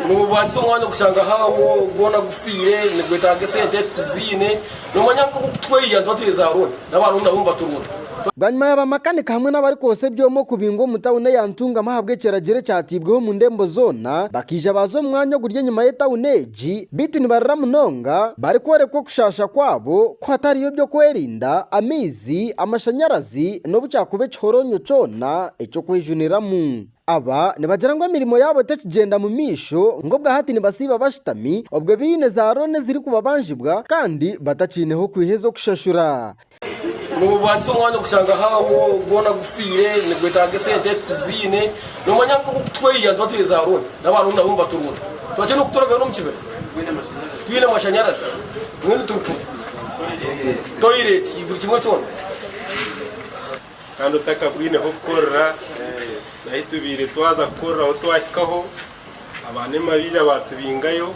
Noorwanisa omwanya kushanga haawo gwona gufiire, nigwetaaga esente ezi tuziine. Noomanya nk'oku okutweiha nituba tuheeza rooni, n'abarooni nabo nibaturonda. Bwanyima ya bamakanika hamwe n'abarikwotsya ebyoma okubingwa omu tauni eya Ntungamo ahabw'ekiragiro ekyateibweho omu ndembo zoona, bakaija baaza omu mwanya oguri enyima y'etauni egi, beitu nibarira munonga, barikworekwa okushaasha kwabo ku hatariyo by'okwerinda, amaizi, amashanyarazi n'obu kyakuba ekihoroonyo kyona eky'okwejuniramu. Aba nibagira ngu emirimo yaabo tekigyenda mu maisho ngu obwa hati nibasiiba bashutami obwo baine za rooni ezirikubabanjibwa kandi batakiineho kwiha ez'okushashura. Noobwagisa omwanya okushanga haawo gwona gufiire, nigwetaaga esente tiziine. Noomanya nka obu kutweiha nituba twine za rooni, n'aba rooni nabo nibaturunda. Twatya n'okutooragayo n'omu kibira twine amashanyarazi, mbwenu turi kumwe, toilet, buri kimwe kyona. kandi otakabwineho kukorera nahi tubaire twaza kukorera ahu twahikaho abaana emabiira batubingayo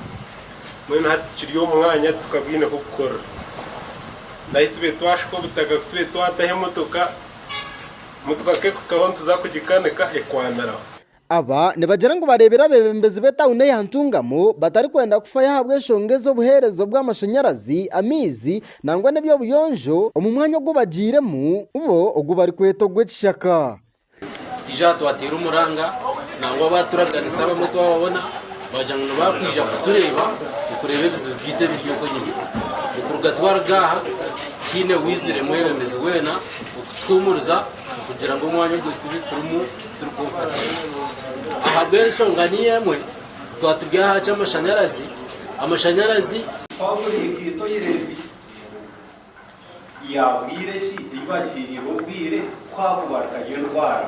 mbwenu hati kiri omu mwanya tukabwineho kukorera nahi tube twashuka obutaka kutube twataho emotoka motoka kekuhikaho nituza kugikanika ekwaniraho. Aba nibagira ngu bareebire abeebembezi b'etauni eya Ntungamo batarikwenda kufayo ahabw'enshonga ez'obuheereza obw'amashanyarazi, amaizi nangwa n'eby'obuyonjo omu mwanya ogu bagiiremu bo ogu barikweta ogw'ekishaka. Tukaija aha twateera omuranga nangwa abaaturaganisa abamwe twababona baagira ngu nibaakwija kutureeba okureeba ebizibu byaitu ebiri oku enyima. Okuruga twaruga aha tihaine owaizire mwebembezi weena okutuhuumuriza. Kugira ngu omwanya ogu turimu turi kwonka turimu. Ahabw'enshonga niyo emwe, twaba turi aha ky'amashanyarazi, amashanyarazi. Paulo yaikirita oyireebi ya bwire ki ei baagihairire obwire ku haakubarikayo endwara?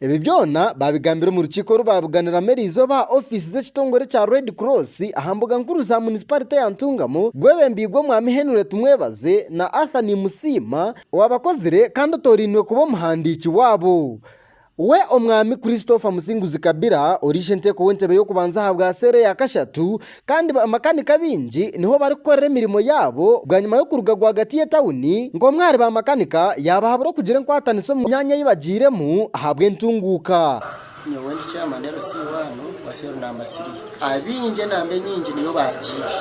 Ebi byona baabigambire omu rukiiko oru baabuganiramu eri izooba aha ofiisi z'ekitongore kya Red Cross aha mbuga nkuru za munisiparite ya Ntungamo, gwebembiirwe Mwami Henry Tumwebaze na Arthur Nimusiima owaabakozire kandi otorainwe kuba omuhandiiki waabo. We Omwami Christopher Musinguzi Kabira, ori ishenteeko w'entebe y'okubanza ahabwa seera eya kashatu, Kandi bamakanika abaingi niho barikukorera emirimo yaabo bwanyima y'okuruga rwagati y'etauni, ngu omwe ahari bamakanika yaabahabura okugira enkwatanisa omu myanya ei bagiiremu ahabw'entunguuka. Nyowe ndi Chairman LC waanu wa Cell Number Three. Abaingi enamba enyingi niyo baagiire,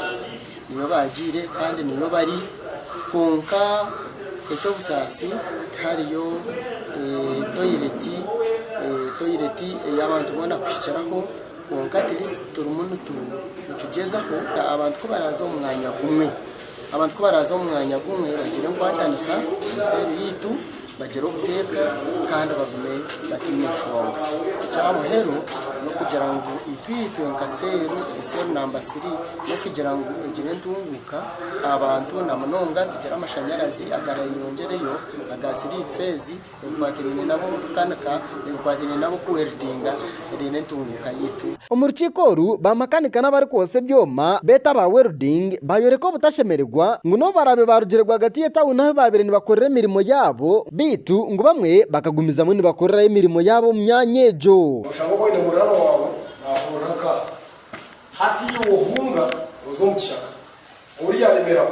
niyo baagiire kandi niyo bari kwonka eky'obusaasi tihariyo toireti, toireti ey'abantu boona kuhikiraho. Kwonka turimu nitugyezaho kureeba abantu ku baraaza omu mwanya gumwe. Abantu ku baraaza omu mwanya gumwe bagira enkwatanisa na seeri yaitu, bagira obuteeka kandi bagume bataine nshonga. Ekya muheru n'okugira ngu itwe nka seeri, seeri namba siri, n'okugira ngu egire entunguuka aha bantu na munonga tugire amashanyarazi agarayeyongyereyo, aga siriimu feezi Ebikwatiraine n'ab'omukukanika n'ebikwatiraine n'ab'okuweridinga riine entunguuka yaitu. Omu rukiiko oru, baamakanika n'abarikwotsya ebyoma beete aba welding baayoreka obutashemererwa ngu n'obu baraabe baarugire rwagati y'etauni ahu baabaire nibakorera emirimo yaabo beitu ngu bamwe bakagumizamu nibakorerayo emirimo yaabo omu myanya egyo. Oshanga obwine muraara waawe naahurira nkaaha, hati iwe ohunga oze omu kishaka, ou yaaremeraho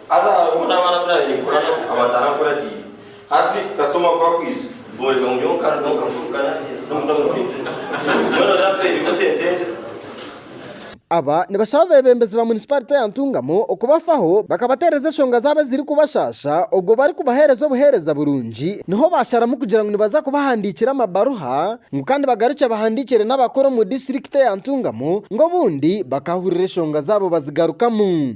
Haza hariho n'abaana abu naabaire ninkora nabo abataarankuratiire. Hati kasita omwaka gwakwija, booreka ngu nyowe nka nyowe nkafurukana n'omutamutinzi. Mbwenu reero hati bairiimu sente nkye. Aba nibashaba abeebembezi ba munisipaarite ya Ntungamo kubafaho bakabateereza enshonga zaabo ezirikubashaasha obwo barikubaheereza obuheereza burungi niho baasharamu kugira ngu nibaza kubahandiikira amabaruha ngu kandi bagarukye bahandiikire n'abakuru omu disiturikiti eya Ntungamo ngu obundi bakahurira enshonga zaabo bazigarukamu.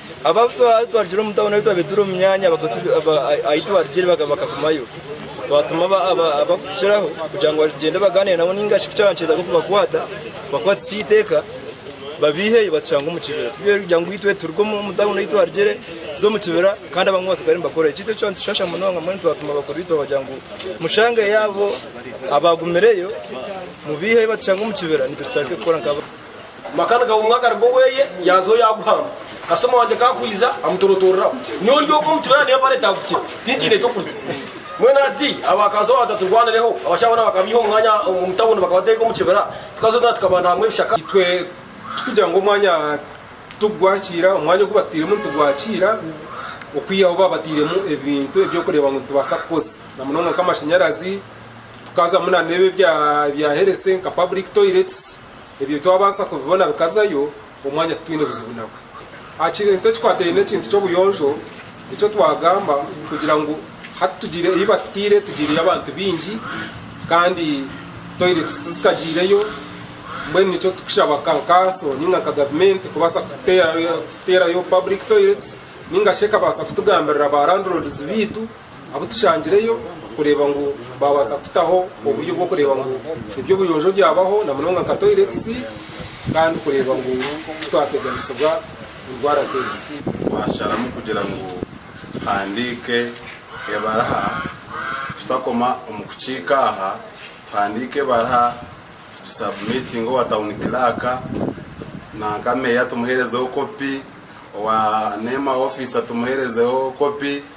Abo abu twarugire omu tauni ahu twabaire turi omu myanya ahu twarugire bakagumayo. Twatuma abakutukiraho kugira ngu bagyende bagaanire nabo ninga shi ku kyaba nikiija kubakwata bakwatise itwe eiteeka babaiheyo batushange omu kibira. Tibyabaire biri byangu itwe turuge omu tauni ei twarugire tuze omu kibira kandi abamwe batsigare nibakorera. Eki nikyo kyaatushasha munonga mbwenu twatuma bakuru itwe kugira ngu mushangeyo abo abaagumireyo mubaiheyo batushange omu kibira nitwe tutandike kukora nkabo. Maka nigaba omwe akaruga oweye yaza oyo aguhamba. Kasitoma wangye ka akwiza amutorotoreraho. Nyowe ndi oku omu kibira naye empare etagukire tinkiine ekyokurya. Mbwenu hati abakazi obu bataturwanireho, abashaija boona bakabeiha omu mwanya omu tawuni bakabateeka omu kibira, tukaza otwena tukabanda hamwe ebishaka. Itwe tikugira ngu omwanya tugwakiira, omwanya ogu batutairemu nitugwakiira okwihaho obu baba batairemu ebintu ebyokureeba ngu nitubaasa kukoza. Na munonga nk'amashanyarazi, tukazamu na n'ebi ebya herese nka public toilets. Ebyo twabaasa kubibona bikazayo omwanya titwine buzibu nabwo. Aha kintu ekikwataine n'ekintu ky'obuyonjo, nikyo twagamba kugira ngu hati tugiire ei batutaire tugiireyo abantu baingi kandi toireti tizikagyireyo. Mbwenu nikyo turikushaba nka kanso nainga nka gavumenti kubaasa kututeerayo paburiki toireti nainga shi ekabaasa kutugambirira ba randiroodizi baitu. Abu tushangireyo kureeba ngu baabaasa kutaho oburyo bw'okureeba ngu eby'obuyonjo byabaho na munonga nka toilets kandi kureeba ngu titwateganisibwa endwara nk'ezi. Twasharamu kugira ngu tuhandiike ebaraha tutakoma omu kukiika aha, tuhandiike ebaraha tugisubmitinge owa town clerk nanka meeya tumuherezeho kopi, owa nema officer tumuherezeho kopi